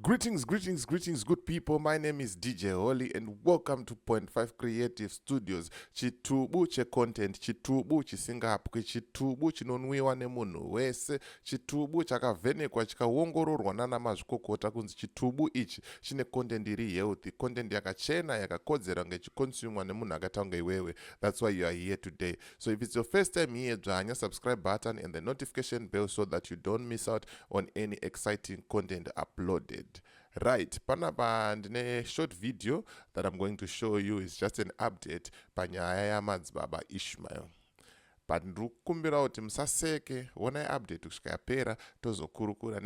Greetings, greetings, greetings, good people. My name is DJ Holly, and welcome to Point Five Creative Studios. Chitubu che content, chitubu chisingapwi, chitubu chinonwiwa nemunhu wese, chitubu chakavhenekwa chikaongororwa nana mazvikokota kunzi chitubu ichi chine content iri healthy, content yakachena yakakodzera kunge ichikonsumwa nemunhu akaita kunge iwewe. That's why you are here today. So if it's your first time here, dzvanya subscribe button and the notification bell so that you don't miss out on any exciting content uploaded. Right, panapa ndine short video that I'm going to show you is just an update panyaya yamadzibaba Ishmael. but ndiri kukumbirawo kuti musaseke wonai update kusvika yapera tozokurukura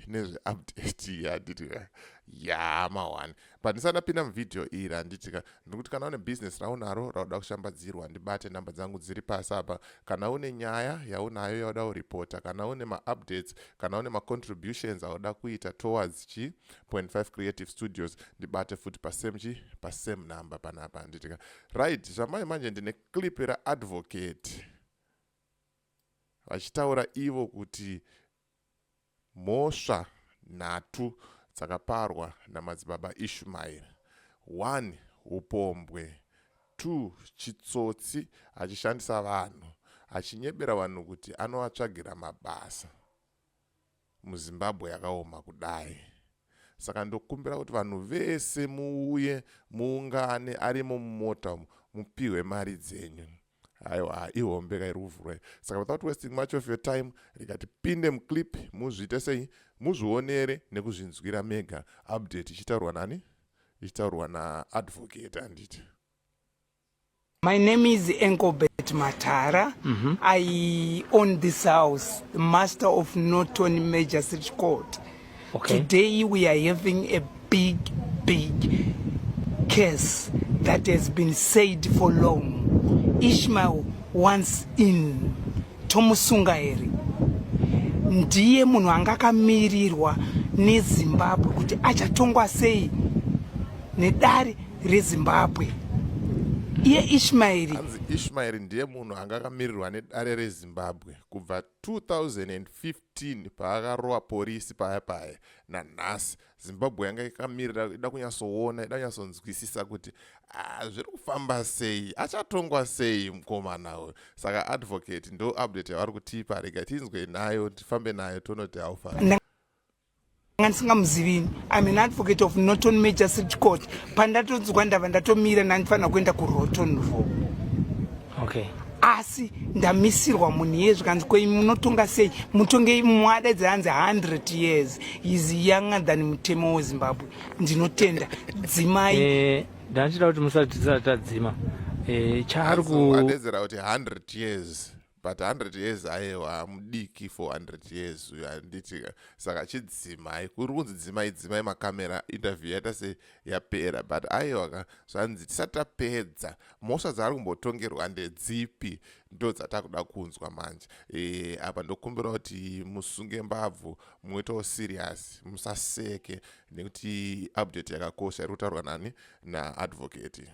nezveupdate yadidira yamawani pandisati ndapinda muvhidhiyo iyi randiti ka ndikuti kana une bhizinesi raunaro rauda kushambadzirwa ndibate nhamba dzangu dziri pasi apa kana une nyaya yaunayo yauda kuripota kana une maupdates kana une macontributions auda kuita towards chi 25 creative studios ndibate futi pasame chi pasame number panapa handiti ka right zvamai manje ndine clip raadvocate vachitaura ivo kuti Mhosva nhatu dzakaparwa naMadzibaba Ishmael, 1 hupombwe, 2 chitsotsi achishandisa vanhu achinyebera vanhu kuti anovatsvagira mabasa. MuZimbabwe yakaoma kudai saka ndokumbira kuti vanhu vese muuye muungane arimo mumota umu mupihwe mari dzenyu. aiwa ihombe ka iri kuvhurwa saka without wasting much of your time rega tipinde muclip muzviite sei muzvionere nekuzvinzwira mega update ichitaurwa nani ichitaurwa naadvocate handiti My name is Enkobet Matara. Mm -hmm. I own this house, the master of Norton Magistrate Court. Okay. Today we are having a big, big case that has been said for long. Ishmael once in tomusunga here ndiye munhu anga akamirirwa nezimbabwe kuti achatongwa sei nedare rezimbabwe iye ishmaeri ishmaeri ndiye munhu anga akamirirwa nedare rezimbabwe kubva 2015 2015 paakarova porisi paya paya nanhasi zimbabwe yanga yakamirira ida kunyatsoona ida kunyatsonzwisisa kuti ah, zviri kufamba sei achatongwa sei mukomana uyu saka advocate ndo update yavari kutipa rega tinzwe nayo tifambe nayo tonoti haufa ndisingamuzivini im an advocate of norton major city court pandatonzwa ndava ndatomira ndandifanira kuenda kuroton ro okay asi ndamisirwa munhu iye zvikanzi ko imi munotonga sei mutonge imi mwadaidza anzi 100 years is younger than mutemo wezimbabwe ndinotenda dzimai eh, ndachida kuti musati tisati tadzima eh, chaari kuadedzera kuti 100 years but 100 years ayewa mudiki for 100 years uyo anditi saka chidzimai kuri kunzi dzimai dzimai makamera interview yaita se yapera but ayewa ka zvanzi tisati tapedza mhosva dzaari kumbotongerwa ndedzipi ndo dzatakuda kunzwa manje e, apa ndokumbira kuti musunge mbabvu muitawo serious musaseke nekuti update yakakosha iri kutaurwa nani naadvocate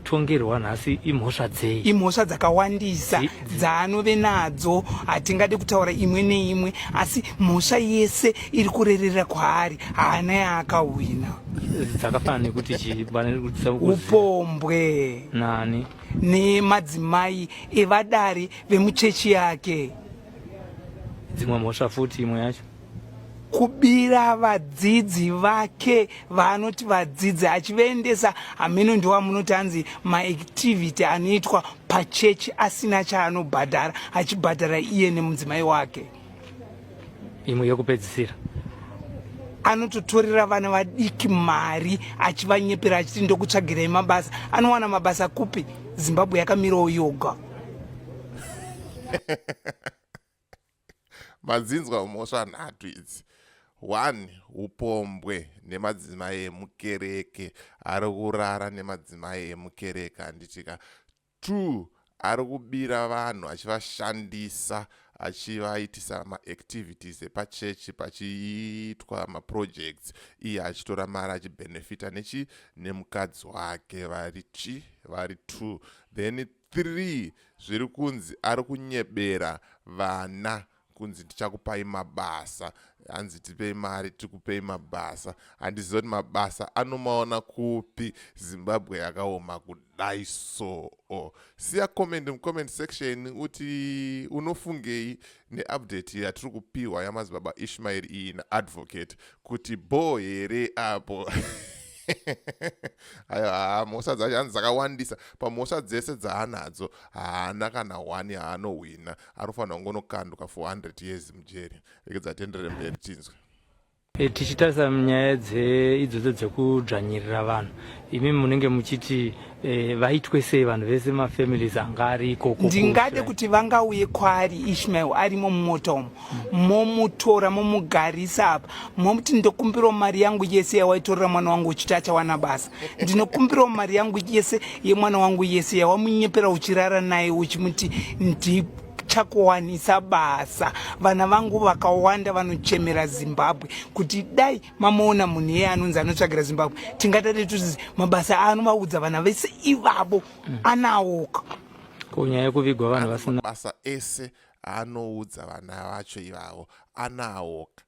tongerwa nhasi imhosva dzei imhosva dzakawandisa dzaanove nadzo hatingade kutaura imwe neimwe asi mhosva yese iri kurerera kwaari haana yaakahwina dzakafanana nekuti chiupombwe nani nemadzimai evadari vemuchechi yake dzimwe mhosva futi imwe yacho kubira vadzidzi vake vaanoti vadzidzi achivaendesa hameno ndowamunoti hanzi maactivity anoitwa pachechi asina chaanobhadhara achibhadhara iye nemudzimai wake imwe yekupedzisira anototorera vana vadiki mari achivanyepera achiti ndokutsvagirai mabasa anowana mabasa kupi zimbabwe yakamirawo yoga Madzinzwa mhosva nhatu idzi. One, upombwe nemadzimai emukereke. Ari kurara nemadzimai emukereke handitika. Two, ari kubira vanhu achivashandisa achivaitisa maactivities epachechi pachiitwa maprojects iye achitora mari achibenefita nechi nemukadzi wake vari chi vari two then three zviri kunzi ari kunyebera vana kunzi ndichakupai mabasa hanzi tipei mari tikupei mabasa handiziva kuti mabasa anomaona kupi zimbabwe yakaoma kudai soo siya comment mucomment section uti unofungei neupdate yatiri kupihwa yamazibaba ishmaeri iyi naadvocate kuti bho here apo ayo haa mhosva dzacho hanzi dzakawandisa pamhosva dzese dzaanadzo haana kana hwani haanohwina anofanira kungonokandwa 400 years mujeri rekedza tenderere mberi tinzwe Eh, tichitarisa nyaya idzodzo dzekudzvanyirira vanhu imi munenge muchiti eh, vaitwe sei vanhu vese mafamilies anga ari ikoko ndingade kuti vangauye kwaari ishmael arimo mumota umo momutora momugarisa apa momuti ndokumbirawo mari yangu yese yawaitorera mwana wangu uchiti achawana basa ndinokumbirawo mari yangu yese yemwana wangu yese yawamunyepera uchirara naye uchimuti ndipo chakuwanisa basa vana vangu vakawanda vanochemera zimbabwe kuti dai mamoona munhu iye anonzi anotsvagira zimbabwe tingatati tuzizi mabasa aanovaudza vana vese ivavo anawoka kunyaya yekuvigwa vanhu vasina mabasa ese aanoudza vana vacho ivavo anawoka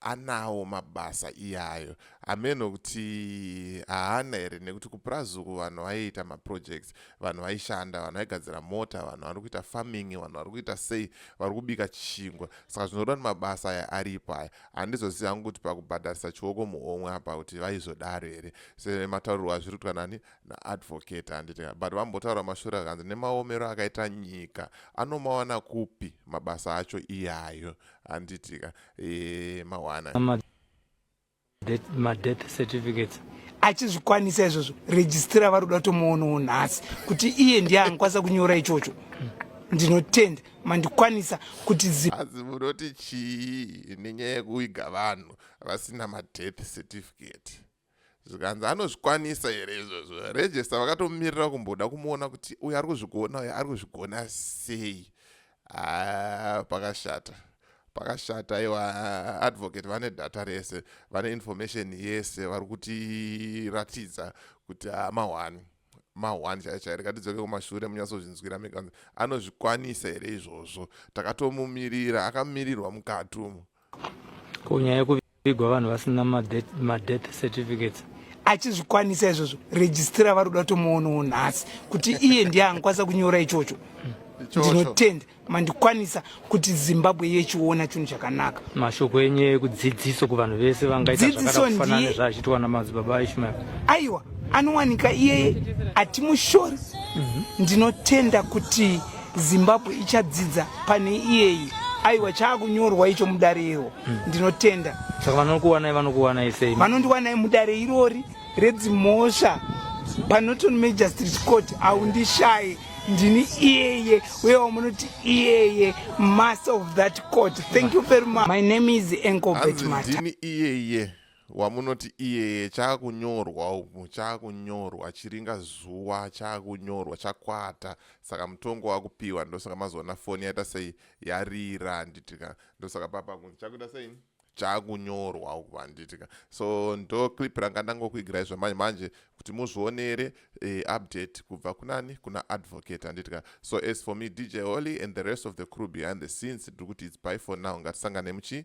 anawo mabasa iyayo hameno kuti haana here nekuti kupurazuku vanhu vaiita maprojects vanhu vaishanda vanhu vaigadzira mota vanhu vari kuita farming vanhu vari kuita sei vari kubika chingwa saka zvinoreva kuti mabasa aya aripo aya handizozivi hangu kuti pakubhadharisa chioko muhomwe apa kuti vaizodaro here semataurirwo azviri kutwa nani naadvocate handiti but vambotaura mashure akanzi nemaomero akaita nyika anomawana kupi mabasa acho iyayo handitika e, mawana madeath certificates achizvikwanisa izvozvo rejistira vari kuda kutomoonawo nhasi kuti iye ndiye angikwanisa kunyora ichocho ndinotenda mandikwanisa kuti ziazi munoti chii nenyaya yekuiga vanhu vasina madeath certificate zvikanzi anozvikwanisa here izvozvo regista vakatomirira kumboda kumuona kuti uyo ari kuzvigona uyo ari kuzvigona sei ah, pakashata pakashata iwa advocate vane data rese vane information yese vari kutiratidza kuti ah, mahwani mahwani chaiyo chaiyo rikatidzoke kumashure munyatsozvinzwira mekanzi anozvikwanisa here izvozvo takatomumirira akamirirwa mukati umo ko nyaya yekuvigwa vanhu vasina madeath certificates achizvikwanisa izvozvo registira vari kuda kutomoonawo nhasi kuti iye ndiye angakwanisa kunyora ichocho ndinotenda mandikwanisa kuti zimbabwe yechiona chinhu chakanaka mashoko enyu ekudzidziso kuvanhu vese vangaitadzidzisondiezvaachitwa namadzibaba ishmael aiwa anowanika iyeye atimushori mhm. ndinotenda kuti zimbabwe ichadzidza pane iyeyi aiwa chaakunyorwa icho mudare iro hmm. ndinotenda saka vanokuwanai vanokuwanai sei vanondiwanai mudare irori redzimhosva panoton magistrate court aundishaye ndini iyeye uye wamunoti iyeye master of that court thank you very much my name is encobetmatndini iyeye wamunoti iyeye chaakunyorwa umu chaakunyorwa chiringa zuva chaakunyorwa chakwata saka mutongo wakupiwa ndosaka mazoona foni yaita sei yarira handitika ndosaka papa kunzi chakuita sei chaakunyorwa uku handitika so ndo clip ranga ndangokuigirai zvamanje manje kuti muzvionere eh, update kubva kunani kuna advocate handitika so as for me dj holy and the rest of the crew behind the scenes tiri kuti its by for now ngatisangane muchi